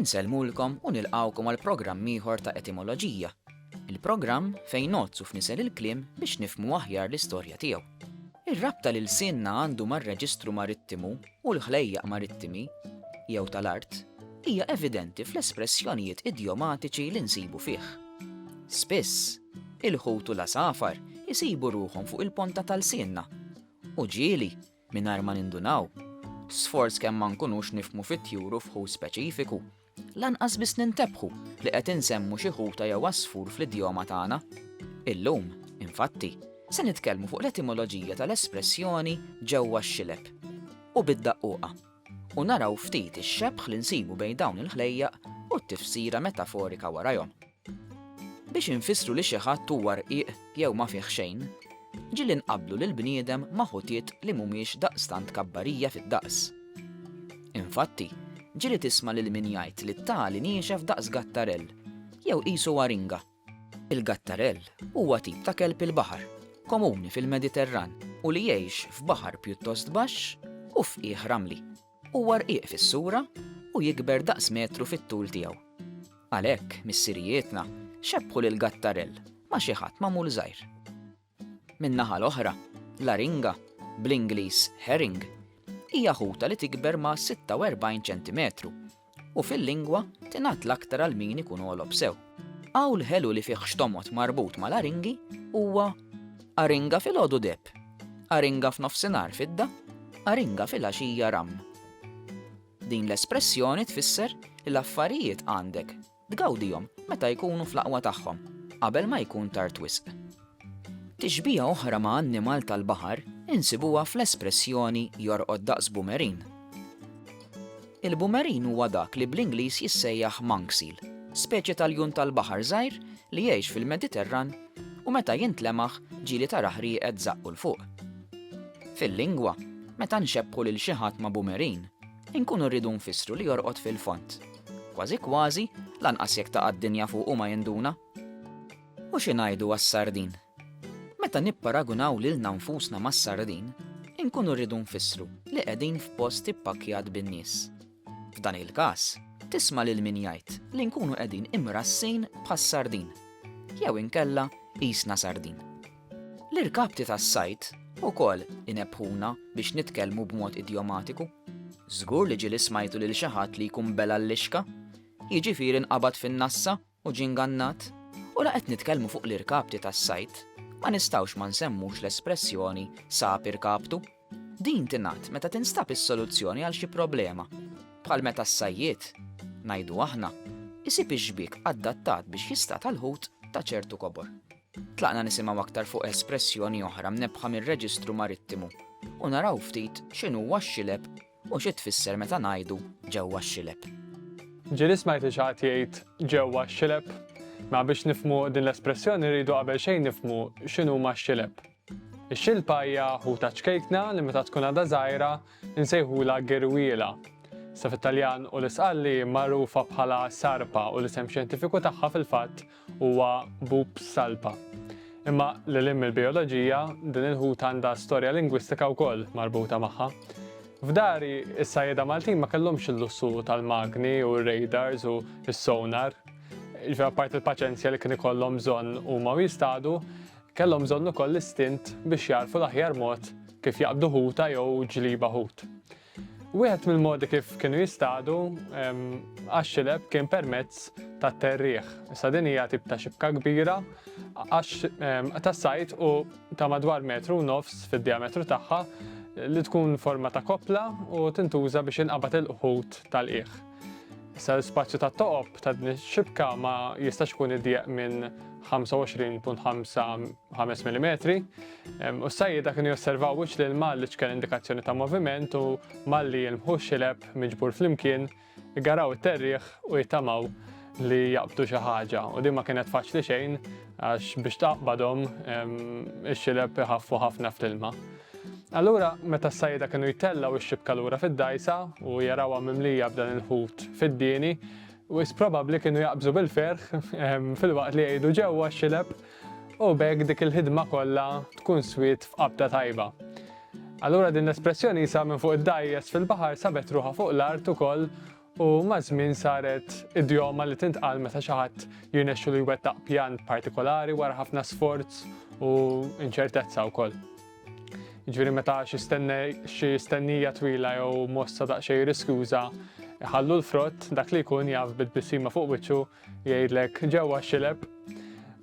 Insellmulkom u nilqgħukom għal programm ieħor ta' Etimoloġija, il-programm fejn nozzu f'nisel il-kliem biex nifmu aħjar l-istorja tiegħu. Ir-rabta lil sinna għandu mar-reġistru marittimu u l-ħlejjaq marittimi jew tal-art hija evidenti fl-espressjonijiet idjomatiċi li nsibu fih. Spiss, Il-ħut u l-għasafar isibu ruħhom fuq il-ponta ta' lsienna. U ġieli, mingħajr ma nindunaw, sforz kemm ma nkunux nifhmu fit-tjur u f'ħut speċifiku, lanqas biss nintebħu li qed insemmu xi ħuta jew għasfur fl-idjoma tagħna. Illum, infatti, se nitkellmu fuq l-etimoloġija tal-espressjoni ġewwa x-xileb u bid-daqquqa u naraw ftit ix-xebħ li nsibu bejn dawn il-ħlejjaq u t-tifsira metaforika warajhom. Biex infissru li xi ħadd huwa rqiq jew ma fih xejn, ġieli nqabblu lill-bniedem ma' ħutiet li mhumiex daqstant kabbarija fid-daqs. Infatti, ġieli tisma' lil min jgħid li t-tali niexef daqs gattarell, jew qisu waringa. Il-gattarell huwa tip ta' kelb il-baħar, komuni fil-Mediterran u li jgħix f'baħar pjuttost baxx u f'qiegħ ramli. Huwa rqiq fis-sura u jikber daqs metru fit-tul tiegħu. Għalhekk, missirijietna xebbħu lil Gattarell ma' xi ħadd magħmul żgħir. Min-naħa l-oħra, l-aringa, bl-Ingliż herring, hija ħuta li tikber ma' 46 ċentimetru u fil-lingwa tingħadd l-aktar għal min ikun għolob sew. Qawl ħelu li fih xtomgħod marbut mal-aringi huwa aringa filgħodu deb, aringa f'nofsinhar fidda, aringa filgħaxija ramm. Din l-espressjoni tfisser li l-affarijiet għandek Tgawdihom meta jkunu fl-aqwa tagħhom, qabel ma jkun tard wisq. Tixbiha oħra ma' annimal tal-baħar insibuha fl-espressjoni jorqod daqs bumerin. Il-bumerin huwa dak li bl-Ingliż jissejjaħ monk seal, speċje ta' ljun tal-baħar żgħir li jgħix fil-Mediterran u meta jintlemaħ ġieli tarah rieqed żaqqu 'l fuq. Fil-lingwa, meta nxebbħu lil xi ħadd ma' bumerin, inkunu rridu nfissru li jorqod fil-fond. Kważi kważi, lanqas jekk taqa' d-dinja fuqu ma jinduna. U xi ngħidu għas-sardin? Meta nipparagunaw lilna nfusna mas-sardin, inkunu rridu nfissru li qegħdin f'post ippakkjat bin-nies. F'dan il-każ, tisma' lil min jgħid li nkunu qegħdin imrassin bħas-sardin, jew inkella qisna sardin. L-irkapti tas-sajd ukoll inebbħuna biex nitkellmu b'mod idjomatiku. Żgur li ġieli smajtu lil xi ħadd li jkun bela' l-lixka, jiġifieri nqabad fin-nassa u ġie ngannat. U la qed nitkellmu fuq l-irkapti tas-sajd, ma nistgħux ma nsemmux l-espressjoni sab irkaptu. Din tingħad meta tinstab is-soluzzjoni għal xi problema, bħal meta s-sajjied, ngħidu aħna, isib ix-xbiek adattat biex jistad għall-ħut ta' ċertu kobor. Tlaqna nisimgħu aktar fuq espressjoni oħra mnebbħa mir-Reġistru Marittimu u naraw ftit x'inhuwa x-xileb u xi tfisser meta ngħidu ġewwa x-xileb. Ġieli smajt li xi ħadd jgħid ġewwa x-xileb? Mela biex nifhmu din l-espressjoni rridu qabel xejn nifhmu x'inhuma x-xileb. Ix-xilpa hija ħuta ċkejkna li meta tkun għadha żgħira nsejħulha girwiela. Sa fit-Taljan u l-Isqalli magħrufa bħala sarpa u l-isem xjentifiku tagħha fil-fatt huwa Bups salpa. Imma lil hinn mill-bijoloġija, din il-ħuta għandha storja lingwistika wkoll marbuta magħha. F'dari, is-sajjeda Maltin ma kellhomx il-lussu tal-magni u r-radars u s-sonar. Ġifier apparti l-paċenzja li kien ikollhom bżonn huma jistadu, Kellhom bżonn ukoll l-istint biex jagħrfu l-aħjar mod kif jaqbdu ħuta jew ġliba ħut. Wieħed mill-modi kif kienu jistadu għax-xileb kien permezz tat-terrieħ. Issa din hija tip ta' xibka kbira għax tas-sajd u ta' madwar metru u nofs fid-diametru tagħha li tkun forma ta' koppla u tintuża biex inqabad il-ħut tal-qiegħ. Issa l-ispazju ta' toqob ta' din ix-xibka ma jistax ikun idjeq minn 25.5 mm. U s-sajjida kienu josservaw wiċċ li l-mal li ċkel indikazzjoni ta' moviment u malli jilmħu xileb miġbur flimkien, igaraw it-terriħ u jittamaw li jaqbdu xi ħaġa u din ma kienet faċli xejn Għax biex taqbadhom, ix-xilep iħaffu ħafna fl-ilma. Allura, meta s-sajjieda kienu jtellgħu x-xibka lura fid-dgħajsa u jarawha mimlija b'dan il-ħut fid-dieni, wisq probabbli kienu jaqbżu bil-ferħ filwaqt li jgħidu ġewwa x-xilep u b'hekk dik il-ħidma kollha tkun swiet f'qabda tajba. Allura din l-espressjoni sa minn fuq id-dgħajjes fil-baħar sabet ruħha fuq l-art ukoll u maż-żmien saret idjoma li tintqal meta xi ħadd jirnexxilu jwettaq pjan partikolari wara ħafna sforz u inċertezza wkoll. Jiġifieri meta xi stennija twila jew mossa daqsxejn riskjuża ħallu l-frott dak li jkun jaf bit-bissima fuq wiċċu jgħidlek ġewwa xileb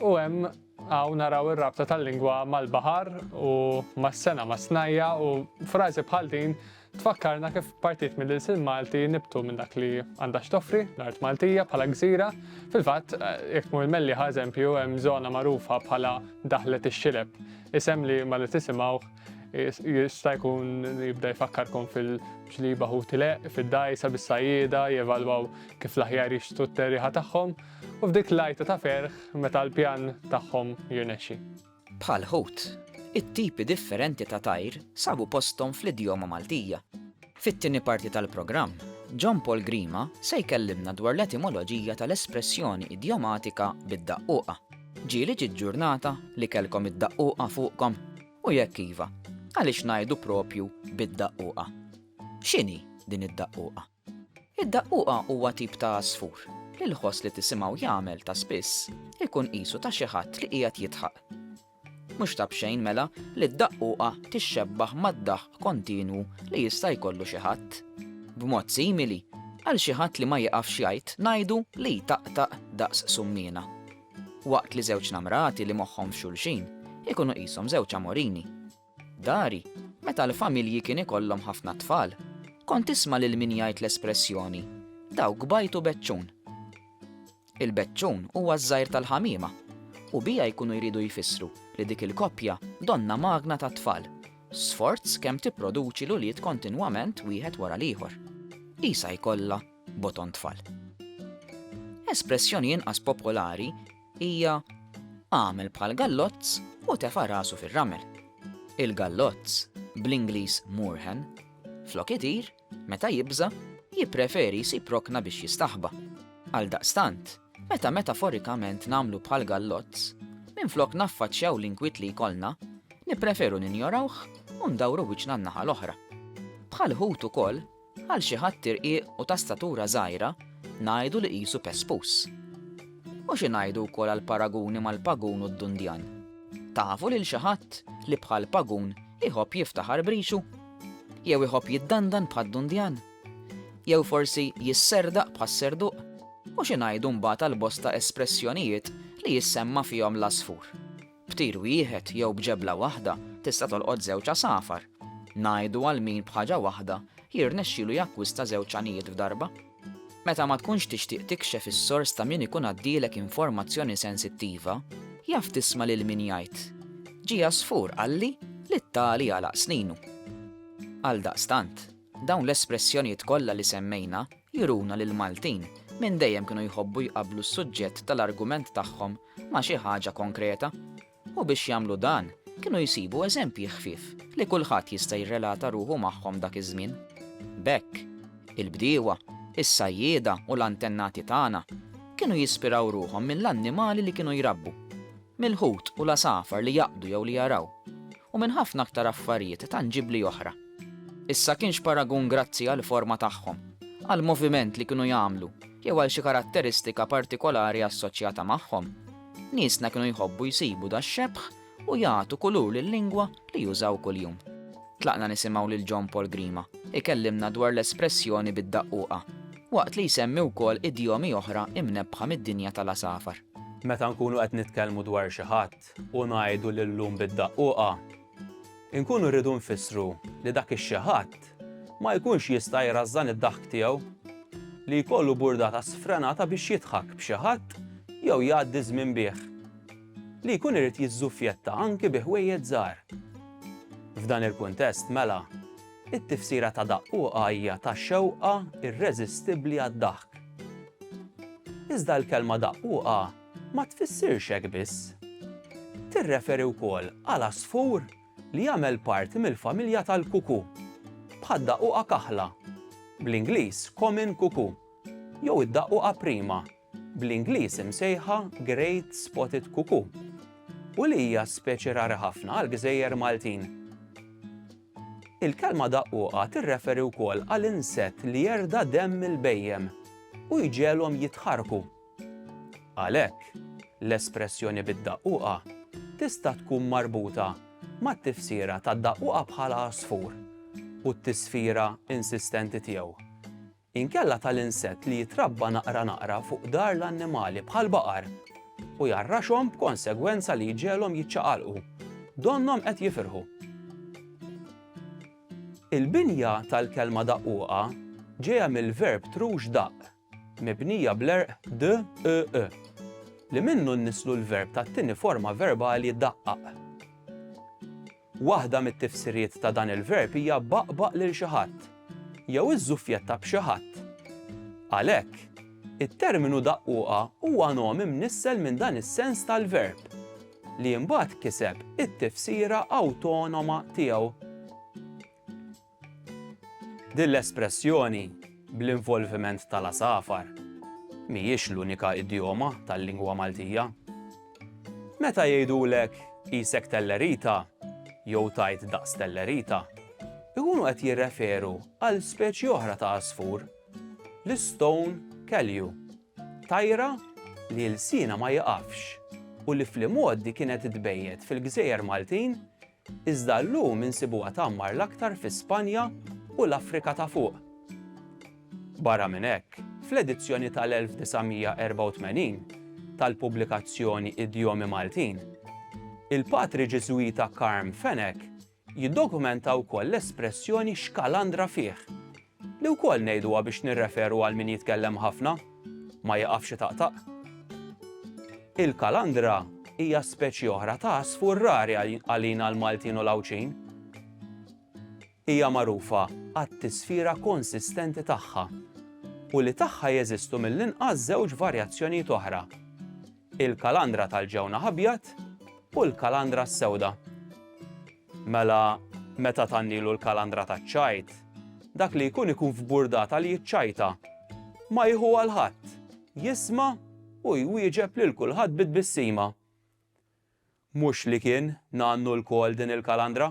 u hemm għaw naraw ir-rabta tal-lingwa mal-baħar u mas-sena mas-snajja u frażi bħal din Tfakkarna kif partit mill-ilsien Malti nibtu minn dak li għandha x'toffri l-art Maltija bħala gżira. Fil-fatt, jekk tmur il-Mellieħa eżempju, hemm żona magħrufa bħala Daħlet ix-Xileb, isem li malli tisimgħuh jista' jkun jibda jfakkarkom fil-ġliba ħuti leqq, fid-dgħajsa bis-sajjieda jevalwaw kif l-aħjar jixtru t-terriħa tagħhom, u f'dik l-għajta ta' ferħ meta l-pjan tagħhom jirnexxi. Bħall-ħut, it-tipi differenti ta' tajr sabu posthom fl-idjoma Maltija. Fit-tieni parti tal-programm, John Paul Grima se jkellimna dwar l-etimoloġija tal-espressjoni idjomatika bid-daqquqa. Ġieli ġiet ġurnata li kellkom id-daqquqa fuqkom? U jekk iva, għaliex ngħidu proprju bid-daqquqa? X'inhi din id-daqquqa? Id-daqquqa huwa tip ta' għasfur li l-ħoss li tisimgħu jagħmel ta' spiss ikun qisu ta' xi ħadd li qiegħed jidħaq. Mhux ta' b'xejn mela li d-daqquqa tixxebbaħ mad-daħq kontinwu li jista' jkollu xi ħadd. B'mod simili, għal xi ħadd li ma jiqafx jgħid ngħidu li jtaqtaq daqs summiena. Waqt li żewġ namrati li moħħhom f'xulxin ikunu qishom żewġ amorini. Dari, meta l-familji kien ikollhom ħafna tfal, kont tisma' lil min jgħid l-espressjoni, dawk bajtu beċċun. Il-beċċun huwa ż-żgħir tal-ħamiema, u biha jkunu jridu jfissru li dik il-koppja donnha magna tat-tfal, sforz kemm tipproduċi l-ulied kontinwament wieħed wara l-ieħor. Qisha jkollha boton tfal. Espressjoni inqas popolari hija, Agħmel bħal gallozz u tefa' rasu fir-ramel. Il-gallozz, bl-Ingliż moorhen, flok itir, meta jibża', jippreferi jsib rokna biex jistaħba. Għaldaqstant, meta metaforikament nagħmlu bħal gallozz, minflok naffaċċjaw l-inkwiet li jkollna, nippreferu ninjorawh u ndawru wiċċna n-naħa l-oħra. Bħal ħut ukoll, Għal xi ħadd irqiq u ta' statura żgħira, ngħidu li qisu pespus. U xi ngħidu wkoll għall-paraguni mal-pagun u d-dundjan? Tafu lil xi ħadd li bħal pagun iħobb jiftaħar b'rixu? Jew iħobb jiddandan bħad-dundjan? Jew forsi jisserdaq bħas-serduq? U xi ngħidu mbagħad għall-bosta espressjonijiet li jissemma fihom l-għasfur? B'tir wieħed jew b'ġebla waħda tista' tolqot żewġ għasafar. Ngħidu għal min b'ħaġa waħda jirnexxilu jakkwista żewġ għanijiet f'darba. Meta ma tkunx tixtieq tikxef is-sors ta' min ikun għaddielek informazzjoni sensittiva, jaf tisma' lil min jgħid, Ġie għasfur qalli li t-tali għalaq sninu. Għaldaqstant, dawn l-espressjonijiet kollha li semmejna juruna li l-Maltin minn dejjem kienu jħobbu jqabblu s-suġġett tal-argument tagħhom ma' xi ħaġa konkreta, u biex jagħmlu dan kienu jsibu eżempji ħfief li kulħadd jista' jirrelata ruħu magħhom dak iż-żmien. B'hekk, il-bdiewa, is-sajjieda u l-antennati tagħna kienu jispiraw ruħhom mill-annimali li kienu jrabbu, mill-ħut u l-għasafar li jaqbdu jew li jaraw, u minn ħafna aktar affarijiet tanġibbli oħra. Issa kienx paragun grazzi għall-forma tagħhom, għall-moviment li kienu jagħmlu jew għal xi karatteristika partikolari assoċjata magħhom. Niesna kienu jħobbu jsibu dax-xebħ u jagħtu kulur lil-lingwa li jużaw kuljum. Tlaqna nisimgħu lil John Paul Grima ikellimna dwar l-espressjoni bid-daqquqa, waqt li jsemmi wkoll idjomi oħra imnebbħa mid-dinja tal-għasafar. Meta nkunu qed nitkellmu dwar xi ħadd u ngħidu li llum bid-daqquqa, Inkunu rridu nfissru li dak ix-xi ħadd ma jkunx jista' jrażżan id-daħk tiegħu, li jkollu burdata sfrenata biex jidħak b'xi ħadd jew jgħaddi ż-żmien bih, li jkun irid jiżżuffjetta anki bi ħwejjeġ żgħar. F'dan il-kuntest, mela, it-tifsira ta' daqquqa hija ta' xewqa irreżistibbli għad-daħk. Iżda l-kelma daqquqa ma tfissirx hekk biss. Tirreferi wkoll għal għasfur li jagħmel parti mill-familja tal-kuku, bħad-daqquqa kaħla, bl-Ingliż common cuckoo, jew id-daqquqa prima, bl-Ingliż imsejħa great spotted cuckoo, u li hija speċi rari ħafna għall-gżejjer Maltin. Il-kelma daqquqa tirreferi wkoll għal insett li jerda' demm il-bhejjem u jġegħelhom jitħarrku. Għalhekk, l-espressjoni bid-daqquqa tista' tkun marbuta mat-tifsira tad-daqquqa bħala għasfur u t-tisfira insistenti tiegħu, inkella tal-insett li jitrabba naqra naqra fuq dar l-annimali bħall-baqar u jgħarraxhom b'konsegwenza li jġegħlhom jiċċaqalqu, donnhom qed jifirħu. Il-binja tal-kelma daqquqa ġejja mill-verb trux daqq, mibnija bl-għerq d-ë-ë, li minnu nniżżlu l-verb tat-tieni forma verbali daqqaq. Waħda mit-tifsiriet ta' dan il-verb hija baqbaq lil xi ħadd jew iżżuffjetta b'xi ħadd. Għalhekk, it-terminu daqquqa huwa nom imnissel minn dan is-sens tal-verb, li mbagħad kiseb it-tifsira awtonoma tiegħu. Din l-espressjoni bl-involviment tal-għasafar mhijiex l-unika idjoma tal-lingwa Maltija. Meta jgħidulek qisek tellerita jew tajt daqs tellerita, ikunu qed jirreferu għal speċi oħra ta' għasfur, l-stone kelju, tajra li lsienha ma jiqafx u li fl-imgħoddi kienet tbejjet fil-gżejjer Maltin Iżda llum insibuha tgħammar l-aktar fi Spanja u l-Afrika ta' Fuq. Barra minn hekk, fl-edizzjoni tal-1984 tal-pubblikazzjoni Idjomi Maltin, il-patri Ġiżwita Carm Fenech jiddokumenta wkoll l-espressjoni xkalandra fih, Li wkoll ngħiduha biex nirreferu għal min jitkellem ħafna, ma jiqafx itaqtaq. Il-kalandra hija speċi oħra ta' għasfur rari għalina l-Maltin u l-Għawdxin. Hija magħrufa għat-tisfira konsistenti tagħha u li tagħha jeżistu mill-inqas żewġ varjazzjonijiet oħra. Il-kalandra tal-ġewnaħ abjad u l-kalandra s-sewda. Mela, meta tgħannilu l-kalandra taċ-ċajt, dak li jkun ikun f'burdata li jiċċajta. Ma jieħuha l-ħadd, jisma' u jwieġeb lil kulħadd bi tbissima. Mhux li kien ngħannu lkoll din il-kalandra?